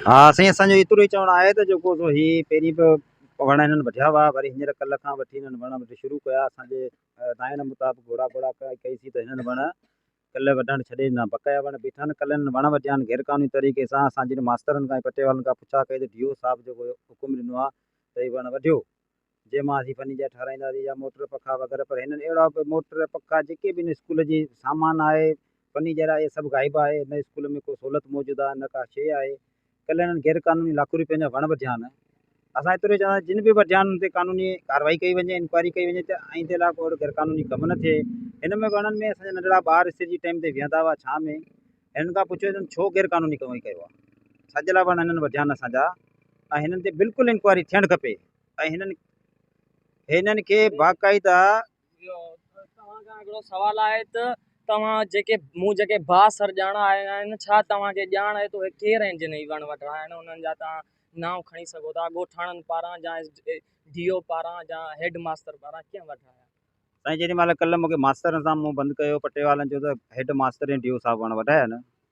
ها سائين اسان جو ايترو ئي چوڻ آهي ته جيڪو سو هي پهرين به وڻ هنن وڍيا هئا وري هينئر ڪلهه کان وٺي هنن وڻ وڍي شروع ڪيا اسان جي دانهن مطابق گهوڙا گهوڙا ڪئي سي ته هنن وڻ ڪلهه وڍڻ ڇڏي ڏنا، بقايا وڻ بيٺن، ڪلهن وڻ وڍيان غير قانوني طريقي سان، اسان جڏهن ماسترن کان ۽ پٽي والن کان پڇا ڪئي ته ڊي او صاحب جيڪو حڪم ڏنو آ ته هي وڻ وڍيو، جنهن مان اسين فرنيچر ٺهرائينداسين يا موٽر پکا وغيره پر هنن اهڙا به موٽر پکا جيڪي به هن اسڪول جي سامان آهي، فرنيچر آهي سڀ غائب آهي نه اسڪول ۾ ڪو سهولت موجود آ نه ڪا شيء آهي ڪلهه انهن غير قانوني لاکورپين جا وڻ وڍيا آهن اسان ايترو ئي چوندا جن به وڍيا آهن انهن تي قانوني ڪاروائي ڪئي وڃي انڪوائري ڪئي وڃي ته آئيندي لاء ڪو اهڙو غير قانوني ڪم نه ٿئي هن ۾ وڻن ۾ اسان جا ننڍڙا ٻار اسٽيج جي ٽائيم تي ويهندا هئا ڇانه ۾ هنن کان پڇيو اٿن ڇو غير قانوني ڪم ڪيو آهي ڇا جي لاء وڻ هنن وڍيا آهن اسان جا ۽ هنن تي بلڪل انڪوائري ٿيڻ کپي ۽ هنن هنن کي باقاعده توهان کان هڪڙو سوال آهي ته توهان جيڪي مون جيڪي ڀا سر ڄاڻا آهن ڇا توهان کي ڄاڻ آهي ته اهي ڪير آهن جن هي وڻ وڍرايا آهن انهن جا توهان نانء کڻي سگهو ٿا ڳوٺاڻن پاران يا ڊي او پاران يا هيڊ ماستر پاران ڪيئن وڍرايا سائين جيڏي مهل ڪلهه مونکي ماسترن سان منهن بند ڪيو پٽيوالن چيو ته هيڊ ماستر ۽ ڊي او صاحب وڻ وڍايا آهن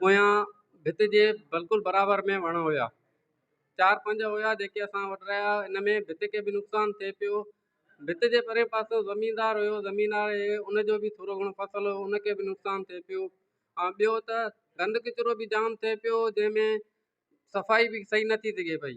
پويان ڀت جي بلڪل برابر ۾ وڻ هيا. چار پنج هيا جيڪي اسان وٽ رهيا. ان ۾ ڀت کي به نقصان ٿئي پيو. ڀت جي پرين پاسو زميندار هيو. زميندار هي ان جو به ٿورو گهڻو فصل هو ان کي به نقصان ٿئي پيو. ۽ ٻيو ته گند ڪچرو به جام ٿئي پيو جنهن ۾ صفائي به صحيح نٿي سگهي پئي.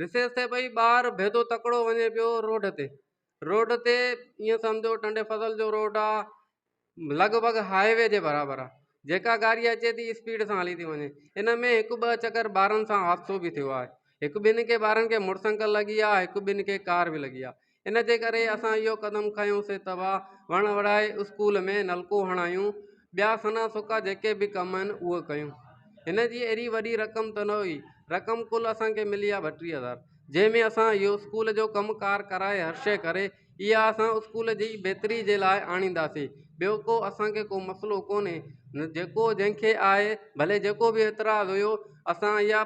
رسيس تي ٻئي ٻار ڀيدو تڪڙو وڃي پيو روڊ تي روڊ تي ائين سمجهو ٽنڊي فضل جو روڊ آ لڳ ڀڳ هاء وي جي برابر آ جيڪا گاڏي اچي ٿي اسپيڊ سان هلي ٿي وڃي ان ۾ هڪ ٻه چڪر ٻارن سان حادثو به ٿيو آهي هڪ ٻن کي ٻارن کي موٽر سائيڪل لڳي آ هڪ ٻن کي ڪار به لڳي آ ان جي ڪري اسان اهو قدم کنيوسين ته اها وڻ وڙائي اسڪول ۾ نلڪو هڻايون ٻيا سنا سوکا جيڪي به ڪم آهن اهي ڪيون هن جي اهڙي وڏي رقم ته نه هئي رقم ڪل اسانکي ملي آهي ٻٽيهه هزار جنهن ۾ اسان اهو اسڪول جو ڪم ڪار ڪرائي هر شي ڪري اها اسان اسڪول جي بهتري جي لاء آڻينداسين ٻيو ڪو اسانکي ڪو مسئلو ڪونهي جيڪو جنهنکي آهي ڀلي جيڪو به اعتراض هيو اسان اها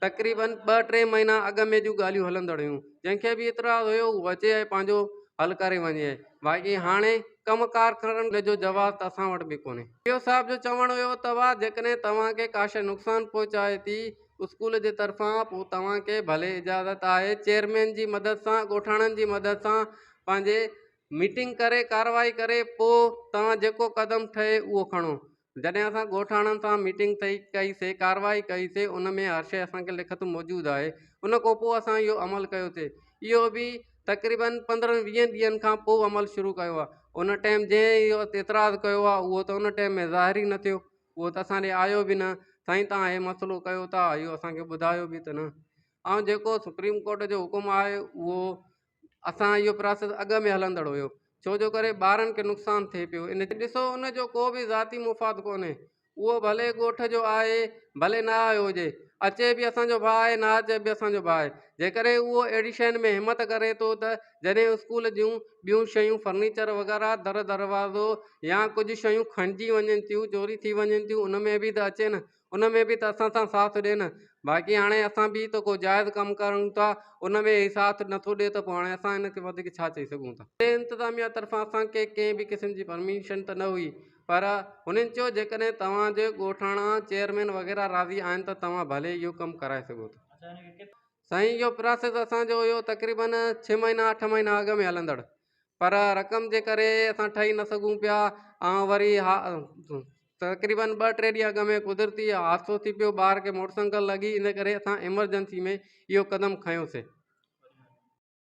تقريبن ٻه ٽي مهينا اڳ ۾ جون ڳالهيون هلندڙ هيون جنهن کي به اعتراض هيو هو اچي ۽ پنهنجو حل ڪري وڃي باقي هاڻي ڪم ڪار ڪرڻ جو جواز ته اسان وٽ به ڪونهي. سي او صاحب جو چوڻ هيو ته واهه جيڪڏهن توهان کي ڪا شيء نقصان پهچائي ٿي اسڪول جي طرفان پوء توهان کي ڀلي اجازت آهي چيئرمين جي مدد سان ڳوٺاڻن جي مدد سان پنهنجي ميٽنگ ڪري ڪارروائي ڪري پوء توهان جيڪو قدم ٺهي اهو کڻو جڏهن اسان ڳوٺاڻن سان ميٽنگ ٿئي ڪئي سي ڪارروائي ڪئي سي ان ۾ هر شيء اسان کي لکت موجود آهي ان کان پوء اسان اهو عمل ڪيو سي اهو به تقريبن پندرهن ويهن ڏينهن کان پوء عمل شروع ڪيو آهي ان ٽائيم جنهن اهو اعتراض ڪيو آهي اهو ته ان ٽائيم ۾ ظاهر ئي نه ٿيو اهو ته اسان ڏي آيو به نه سائين تان هي مسئلو ڪيو ٿا اهو اسان کي ٻڌايو به ته نه ۽ جيڪو سپريم ڪورٽ جو حڪم آهي اهو اسان اهو پراسيس اڳ ۾ هلندڙ هيو ڇو جو ڪري ٻارن کي نقصان ٿئي پيو ان جي ڏسو ان جو ڪو به ذاتي مفاد ڪونهي اهو ڀلي ڳوٺ جو آهي ڀلي نه آيو هجي اچي به اسان جو ڀاء آهي نه اچي به اسان جو ڀاء آهي جيڪڏهن اهو اهڙي شين ۾ همت ڪري ٿو ته جڏهن اسڪول جون ٻيون شيون فرنيچر وغيره در دروازو يا ڪجهه شيون کڻجي وڃن ٿيون چوري ٿي وڃن ٿيون ان ۾ به ته اچي نه ان ۾ به ته اسان سان ساٿ ڏي نه باقي هاڻي اسان به ته ڪو جائز ڪم ڪريون ٿا ان ۾ هي ساٿ نٿو ڏي ته پوء هاڻي اسان هن کي وڌيڪ ڇا چئي سگهون ٿا. اتي انتظاميا طرفان اسان کي ڪنهن به قسم جي پرميشن ته نه هئي پر هنن چيو جيڪڏهن توهان جي ڳوٺاڻا چيئرمين وغيره راضي آهن ته توهان ڀلي اهو ڪم ڪرائي سگهو ٿا. سائين اهو پراسيس اسان جو اهو تقريبن ڇهه مهينا اٺ مهينا اڳ ۾ هلندڙ پر رقم جي ڪري اسان ٺهي نه سگهون پيا ۽ وري ها تقريبن ٻه ٽي ڏينهن اڳ ۾ قدرتي حادثو ٿي پيو ٻار کي موٽرسنگل لڳي ان ڪري اسان ايمرجنسي ۾ اهو قدم کنيوسين